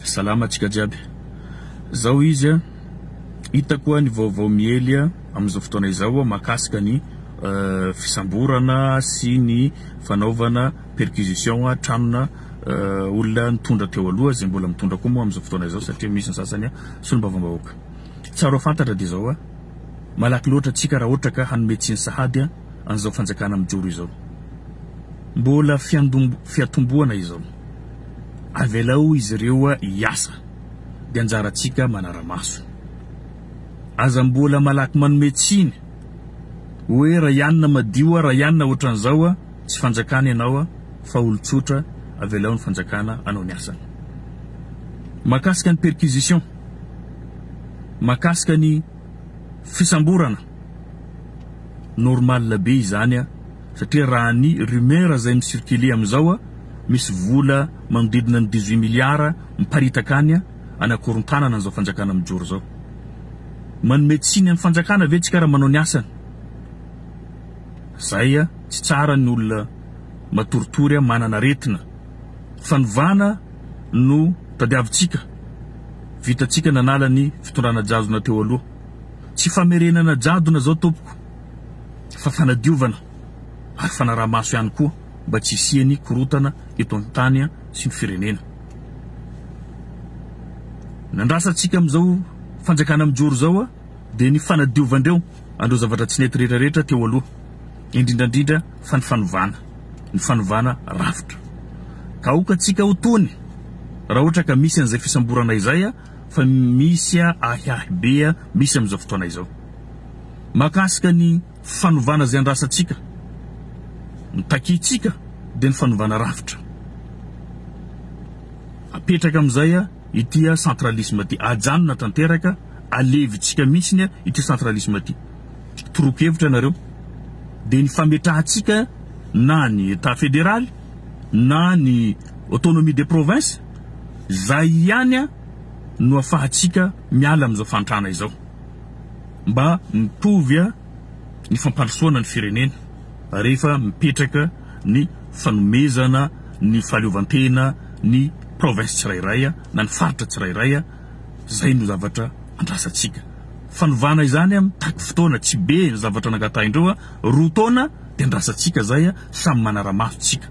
Salama antsika jiaby. Zao izy a, hitako a ny vaovao miely a amin'izao fotoana izao a mahakasika ny fisamborana sy ny fanaovana perquisition a tranona olona nitondra teo aloha zay mbola mitondra koa moa amin'izao fotoana izao satria misy ny sasany a solombavambahoaka. Tsara ho fantatra de zao a, malaky loatra tsika raha ohatra ka hanome tsiny sahady a. an'izao fanjakana mijoro izao. Mbola fiatombohana izao. Avelao izy ireo hiasa, dia anjarantsika manara-maso. Aza mbola malaky manome tsiny hoe Rayanina madio a, Rayanina ohatran'izao a, tsy fanjakana ianao a, fa olon-tsotra, avelao ny fanjakana hanao ny asany. Mahakasika ny perquisition, mahakasika ny fisamborana. Normal be izany a, satria raha ny rumeur izay mi circuler amin'izao a, misy vola manodidina ny dix huit milliards miparitaka any a, any akorontanana an'izao fanjakana mijoro izao. Manome tsiny amin'ny fanjakana ve tsika raha manao ny asany? Zay a, tsy tsara ny olona matoritory a, manana aretina. Fanovana no tadiavintsika, vitantsika nanala ny fitondrana jazona teo aloha. Tsy famerenana jadona izao tompoko fa fanadiovana ary fanaraha-maso ihany koa mba tsy hisian'ny korotana eto an-tany sy ny firenena. Ny andrasantsika amin'izao fanjakana mijoro izao dia ny fanadiovan-dreo an'ireo zavatra tsy nety rehetra rehetra teo aloha, indrindra indrindra fa ny fanovana, ny fanovana rafitra. Ka aoka antsika ho tony raha ohatra ka misy an'izay fisamborana izay. fa misy ahiahy be misy amin'izao fotoana izao mahakasika ny fanovana izay andrasantsika, ny takiantsika dia ny fanovana rafitra. Apetraka amin'izay ity centralisme ity, ajanona tanteraka, alevintsika mihitsy ity centralisme ity. Toroako hevitra ianareo dia ny fametrahantsika na ny Etat federaly na ny autonomie des provinces Izay ihany no afahantsika miala amin'izao fahantrana izao. Mba mitovy ny fampandrosoana ny firenena rehefa mipetraka ny fanomezana ny fahaleovantena ny province tsirairay na ny faritra tsirairay. Izay no zavatra andrasantsika. Fanovana izany mitaky fotoana, tsy be ny zavatra nangatahin'ireo roa taona. de andrasantsika zay a, samy manaramaso tsika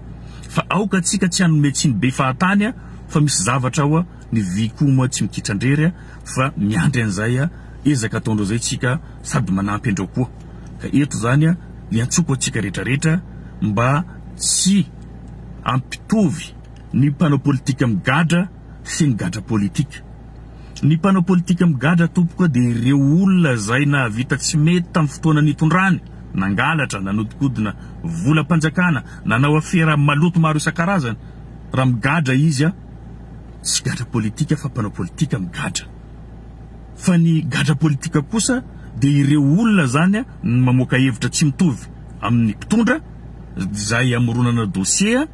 fa aoka tsika tsy hanome tsiny be fahatany a, fa misy zavatra ao a, ny vy koa moa tsy mikitrandrery a, fa miandry an'izay a, ezaka ataondreo zay tsika sady manampy andreo koa, ka eto zany a iantsoko atsika retraretra mba tsy ampitovy ny mpanao politika migadra, sy ny gadra politika. Ny mpanao politika migadra tompoko dia ireo olona izay nahavita tsy mety tamin'ny fotoana nitondrany, nangalatra, nanodikodina volam-panjakana, nanao afera maloto maro isan-karazany. Raha migadra izy, tsy gadra politika fa mpanao politika migadra. Fa ny gadra politika kosa dia ireo olona izany no mamoaka hevitra tsy mitovy amin'ny mpitondra izay amoronana dossier,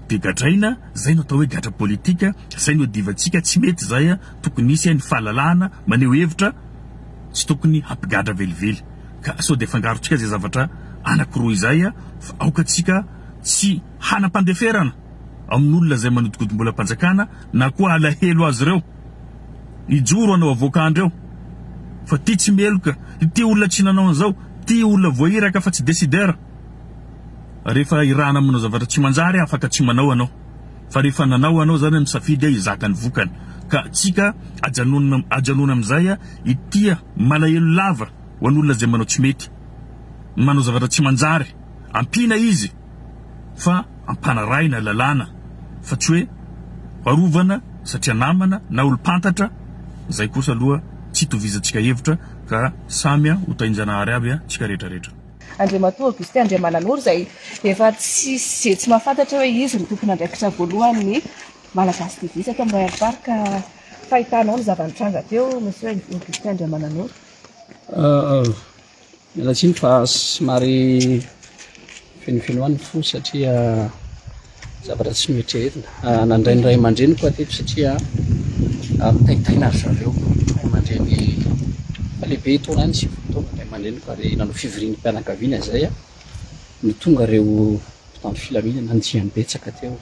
de gadraina zay no atao hoe gadra politika zay no divantsika tsy mety zay a tokony hisy ny fahalalahana maneho hevitra tsy tokony hampigadra velively ka sao de afangarontsika zay zavatra anakiroa izay a fa aoka tsika tsy hanam-pandeferana amin'olona zay manodikodimbolam-panjakana na koa alahelo azy ireo hijoro anao avoakandry eo fa ty tsy meloka ty olona tsy nanao an'izao ty olona voahiraka fa tsy decideur rehefa irahana manao zavatra tsy manjary afaka tsy manao anao fa rehefa nanao anao zany misafidy hizaka ny vokany ka tsika ajanonina ajanona amin'izay itia malahelo lava ho an'olona izay manao tsy mety manao zavatra tsy manjary ampiana izy fa ampanarahina lalàna fa tsy hoe arovana satria namana na olom-pantatra izay kosa aloha tsy tovizantsika hevitra ka samya ho tahinjanahary avy a tsika rehetrarehetra Andriamatoa Augustin Andriamananoro izay efa tsy izay tsy mahafantatra hoe izy no tompon'andraikitra voalohan'ny Malagasy TV teto amin'ny Royal Park ka fahitanao ny zava-nitranga teo Monsieur Augustin Andriamananoro. Miala tsiny fa somary fenofenoa ny fo satria Zavatra tsy noeritreretina. Ah, nandray ny ray aman-dreniko aho teto satria ah, mitaitaina ry zareo ray aman-dreny efa lehibe etoana any, sivifolo taona ny ray aman-dreniko ary nanao fivoriam-pianakaviana izay ah, no tonga ireo mpitandro filaminana nandiany betsaka teo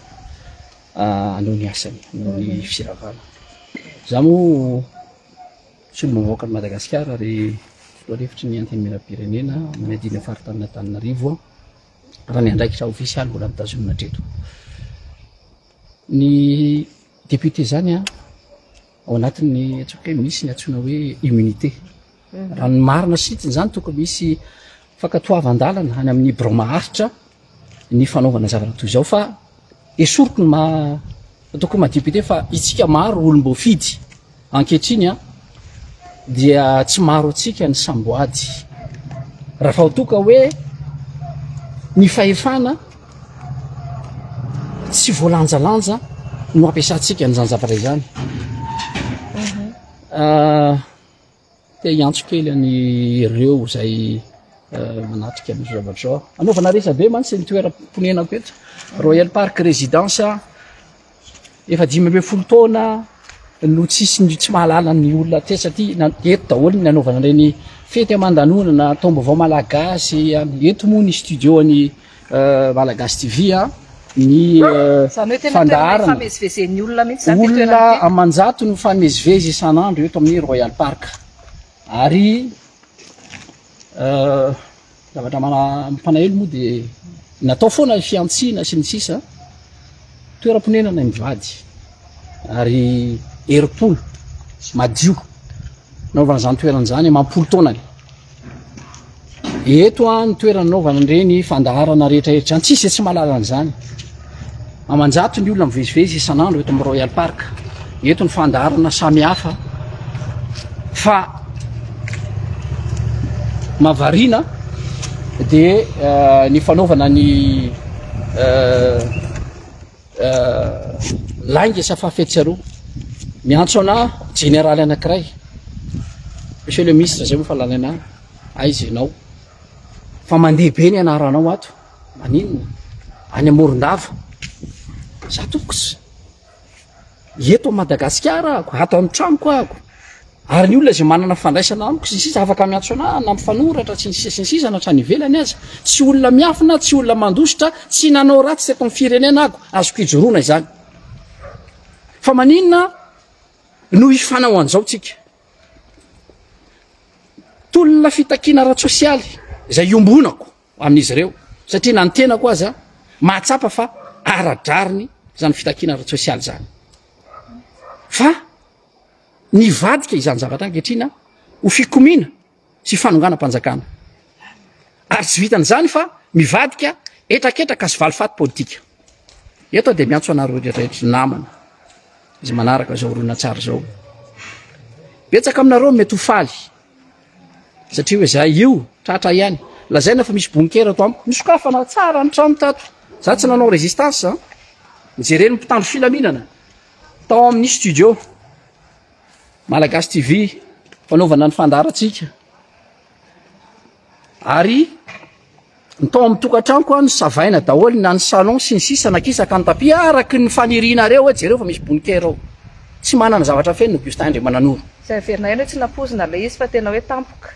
ah, hanao ny asany, hanao ny firavana. Izaho moa solombavambahoaka an'i Madagasikara ary filohany hevitry ny Antenimierampirenena, manadino ny faritanin'Antananarivo aho. raha ny andraikitra ofisialy mbola mitazonina hatreto ny depute zany a ao anatin'ny atsoka hoe misy ny atsoina hoe immunité raha ny marina sitiny zany toko misy fakatoavan-dalana any amin'ny bro maharitra ny fanaovana zavatra toy izao fa esoriko ny ma Tokony ma député fa itsika maro olom-boafidy ankehitriny dia tsy maro antsika ny samboady. Raha vao toa ka hoe ny fahefana tsy voalanjalanja no ampiasantsika an'izany zavatra izany. Mhm. Ah, Te hiantso kely any ireo izay manatrika ny zavatra. Anaovana resabe mantsy ny toeram-ponenako eto. Royal Park Residence efa dimy ambin'ny folo taona no tsisy ny tsy mahalala ny olona tetsy aty eto daholo ny anaovana ireny fety aman-danonana, taom-baovao malagasy, eto moa ny studio-ny Malagasy TV a, ny fandaharana, olona aman-jato no mifamezivezy isan'andro eto amin'ny Royal Park ary zavatra mampalahelo moa dia natao foana ny fihantsiana sy ny sisa, toeram-ponenana ny mivady. ary herim-polo madio naovana izany toerana izany amam-polo taonany. Eto an ny toerana naovana an'ireny fandaharana rehetra rehetra izany, tsisy tsy mahalala an'izany. Amanjato ny olona mivezivezy isan'andro eto amin'ny Royal Park. Eto ny fandaharana samy hafa fa mavarina dia eh, ny fanaovana ny eh, Lainga isa fahafehy tsy aroa. Miantso anà jeneraly anankiray. Monsieur le Ministre izay moa fa lalaina any. Aiza ianao? Fa mandeha be ny anaranao ato. Maninona? Any Amorondava. Za tokos. eto Madagasikara ako, ato an-tranoko ako, ary ny olona izay manana fandraisana amiko sy ny sisa afaka miantso anah na mifanoratra sy ny sisa sy ny sisa na hatrany ivelany aza, tsy olona miafina, tsy olona mandositra, tsy nanao ratsy teto amin'ny firenena ako, azoko ijoroana izany. Fa maninona no hifanao an'izao tsika? Tolona fitakiana ara-tsosialy izay iombonako. amin'izy ireo satria na ny tenako aza mahatsapa fa ara-drariny izany fitakiana ara-tsosialy izany fa nivadika izany zavatra ankehitrina ho fikomiana sy fanonganam-panjakana ary tsy vitan'izany fa mivadika etraketraka sy valifaty politika eto dia miantso anareo rehetrarehetra namana izay manaraka izao ronan-tsary izao betsaka aminareo mety ho faly Satria hoe za io, tratra ihany. Lazaina fa misy bunker ato amiko. Nosokafana tsara ny trano tato. Za tsy nanao resistance an. Nijereny ny mpitandro filaminana tao amin'ny studio Malagasy TV fanaovana ny fandaharantsika. Ary Ny tao amin'ny tokantranoko an, savaina daholo na ny salon sy ny sisa na kisaka ny tapis araky ny fanirianareo hoe jereo fa misy bonikera ao. Tsy manana zavatra feno ny Bustin Andriamananoro. Izay heverina ihany hoe tsy nampoizina ilay izy fa tena hoe tampoka.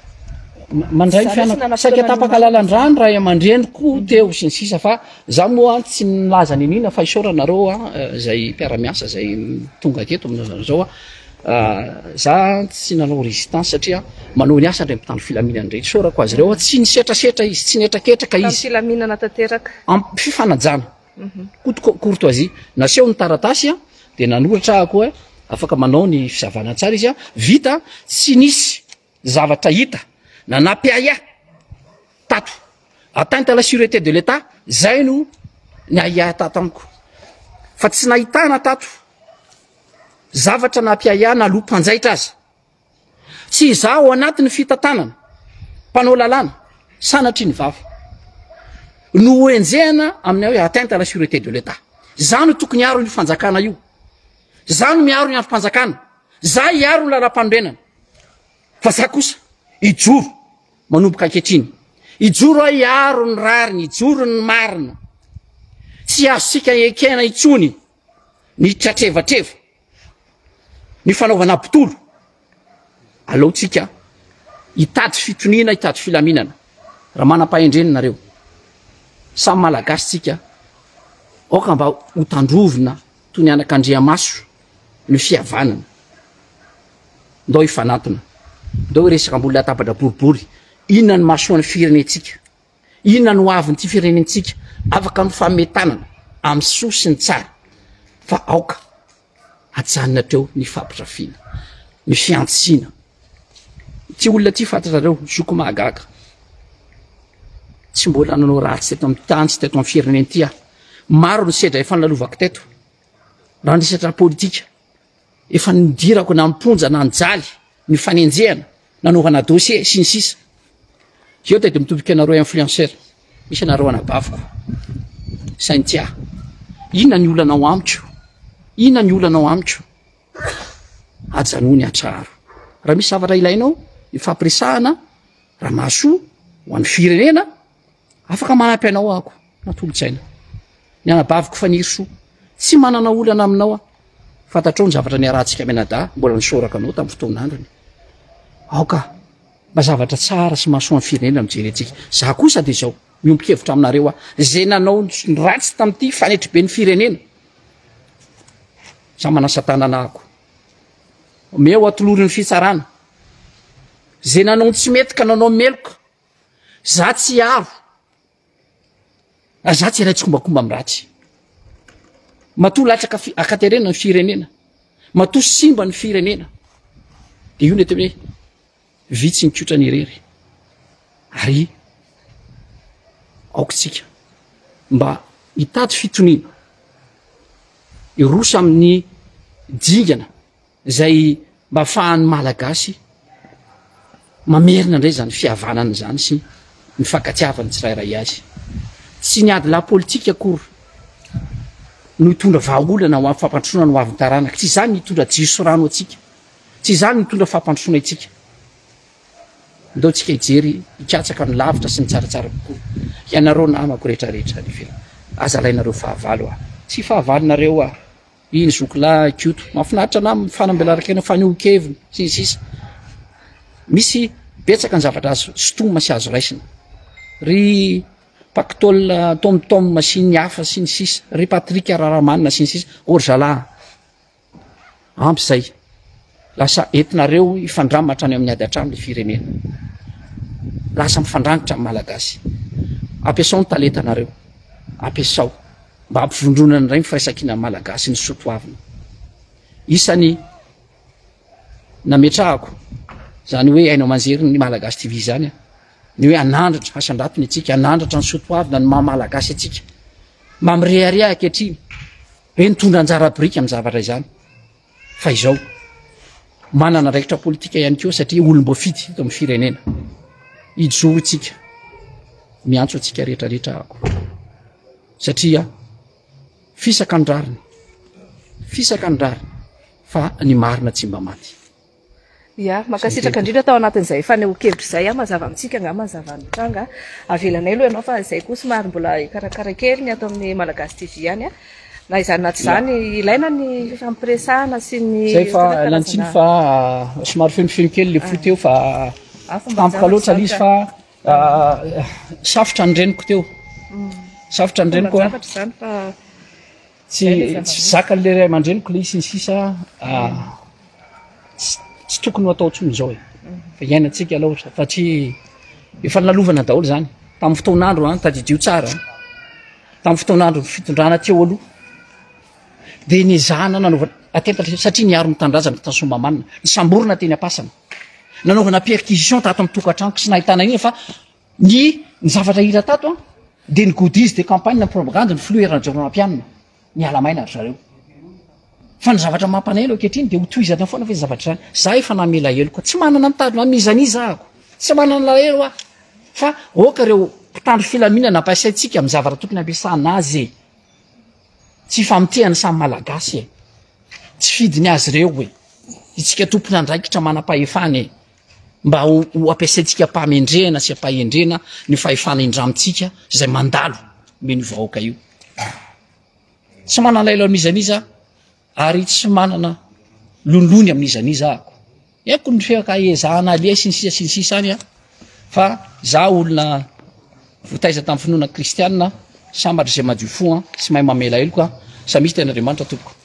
Mandray ny fianako, saika tapaka lalan-drano ray aman-dreniko teo sy ny sisa fa za moa an tsy nilaza niniana fa isaorana nareo an izay mpiara-miasa izay tonga teto amin'izao izao an. Za tsy nanao résistance satria manao ny asa ndray mpitandro filaminana ndray isaorako azy ireo tsy nisetrasetra izy tsy nihetraketraka izy tamin'ny filaminana tanteraka ampy fifanajana mhm. koto courtoisie naseho ny taratasy dia nanoratra aho koa afaka manao ny fisavana tsara izy vita tsy nisy zavatra hita nanapy ahy ahy tato atteinte à la sûreté de l'état zay no ny ahiahy tato amiko fa tsy nahitana tato Zavatra nampiahiana aloha mpanjaitra aza. Tsy izaho ao anatin'ny fitantanana, mpanao lalàna, sanatria ny vava. No hoenjehina amin'ny hoe atteinte à la sûreté de l'État. Za no tokony hiaro io fanjakana io. Za no miaro ny androm-panjakana. Za hiaro ny lalam-panorenana. Fa za kosa hijoro manomboka ankehitriny. Hijoro aho hiaro ny rariny, hijoro ny marina. Tsy azontsika ekena intsony ny tratrevatreva, ny fanaovana mpitolo, aleontsika hitady fitoniana, hitady filaminana, raha manam-pahendrena nareo, samy malagasy tsika, aoka mba ho tandrovina toy ny anak'Andriamaso ny fihavanana, ndao hifanantona, ndao hiresaka ambony latabatra boribory, inona ny mahasoa ny firenentsika. Inona no hoavin'ity firenentsika? Afaka mifame tanana amin'ny soa sy ny tsara fa aoka ajanona hatreo ny fampitrafiana, ny fiantsiana. Ity olona ity fantatrareo, zoko mahagaga. Tsy mbola nanao ratsy teto amin'ny tany sy teto amin'ny firenena ity aho. Maro ny sedra efa nalovako teto. Raha ny resatra politika, Efa nidirako na am-ponja na nijaly ny fanenjehana, nanaovana dossier, sy ny sisa Eo dia mitombika anareo influenceurs, misy anareo anabaviko, saingy tsy ahy. Inona ny olanao amiko? Inona ny olanao amiko? Ajanony ny hatraro. Raha misy zavatra ilainao ifampiresahana, Ramahasoa, ho an'ny firenena, Afaka manampy anao ako, natolotsaina. Ny anabaviko Fanirisoa, tsy manana olana aminao aho. Fantatrao ny zavatra niarahantsika mianadahy, mbola nisoraka anao tamin'ny fotoan'androny. Aoka, mba zavatra tsara sy mahasoan'ny firenena no jerentsika. Za kosa dia izao, miombon-kevitra aminareo aho. Izay nanao ny ratsy tamin'ity fanetriben'ny firenena. Za manasa tanana ako. Omeo atolorin'ny fitsarana. Izay nanao ny tsy mety ka nanao meloka. Za tsy avo. Za tsy iray tsikombakomba amin'ny ratsy. Matoa latsaka akaterena ny firenena. Matoa simba ny firenena. Dia io nety hoe vitsy ny kotra ny irery. Ary aokintsika mba hitady fitoniana. Irosa amin'ny dingana. izay mba afahan'ny Malagasy mamerina indray izany fihavanana izany sy ny fankatiavan'ny tsirairay azy. Tsy ny adilahy politika akory no hitondra vahaolana ho amin'ny fampandrosoana ny ho avin'ny taranaka. Tsy izany ny hitondra jiro sy rano antsika. Tsy izany ny hitondra fampandrosoana itsika. Ndao tsika hijery hikatsaka ny lavitra sy ny tsaratsara kokoa. Ianareo namako rehetra rehetra any ivelany. Aza alainareo fahavalo aho. Tsy fahavalonareo aho. Iny zoky lahy Koto mahafinaritra anah amin'ny fanambelaran-kena, fanehoan-keviny sy ny sisa Misy betsaka ny zavatra azo sintomina sy azo raisina Ry Pactol Tom Tom sy ny hafa sy ny sisa Ry Patrick Raharamanana sy ny sisa Orzala Ampy izay Lasa entinareo hifandrama hatrany amin'ny ady hatrany ny firenena. Lasa mifandrangitra amin'ny Malagasy. Ampiasao ny talentanareo. Ampiasao mba hampivondronana indray ny firaisankinan'ny Malagasy ny soatoavina. Isany nametrahako izany hoe haino aman-jery ny Malagasy TV izany ny hoe hanandratra hasandrato ny antsika, hanandratra ny soatoavina ny maha Malagasy antsika. Mamirehareha ankehitriny. Be nitondra anjara biriky amin'ny zavatra izany. fa izao manana andraikitra politika ihany koa satria olom-boafidy eto amin'ny firenena ijoro tsika miantso antsika rehetrarehetra ako satria fisaka ny rariny fisaka ny rariny fa ny marina tsy mba maty Ia, mankasitraka indrindra tao anatin'izay fanehoan-kevitra izay, mazava amintsika angaha mazava ny tranga. Avelanay aloha ianao fa izay koa somary mbola hikarakara kely ny ato amin'ny Malagasy TV ihany. Na izany na tsy izany, ilaina ny fifampiresahana sy ny Zay fa tena lantsiny karazana- fa ah, somary fenofeno kely le fo teo fa Ah, fomba tampoka loatra le izy fa ah, safotra ny reniko teo. Safotra ny reniko ah. Fomban-javatra izany fa Tsy tsy zakan'ny lehiray aman-dreniko ilay sy ny sisa ah, tsy- tsy tokony ho atao intsony izao e fa iainantsika aloha sa- satria efa nalovana daholo izany tamin'ny fotoan'andro an tadidio tsara an. tamin'ny fotoan'andro fitondrana teo aloha dia nezahana nanaovana atentatra sy- satria niaro ny tanindrazana tany soamamanina nisamborina teny ampasana nanaovana perquisition tato amin'ny tokantranoko sy nahitana iny fa Ny ny zavatra hita tato an, dia ny goodies de campagne propagande ny filoha hery rajaonarimampianina, miala maina ry zareo. Fa ny zavatra mampanahelo ankehitriny dia ho tohizana foana ve ny zavatra izany, za efa namela heloka, tsy manana mitady man'iza n'iza ako, tsy manana alahelo aho, fa aoka ireo mpitandro filaminana ampasaintsika amin'ny zavatra tokony ampiasana azy e, tsy ifamotehan'ny samy malagasy e, tsy fidiny azy ireo e, itsika tompon'andraikitra manampahefana e, mba ho ho ampiasaintsika am-pahamendrehana sy am-pahendrena ny fahefana indramintsika izay mandalo omen'io vahoaka io. Tsy manana lailo amin'iza n'iza ary tsy manana lonilony amin'iza n'iza ako. Eko ny fiakaezahana aliay sy ny sisa sy ny sisa any a fa za olona votaiza tamin'ny finoana kristianina sambatra izay madio fo a tsy mahay mamela heloka samia tena Andriamanitra tompoko.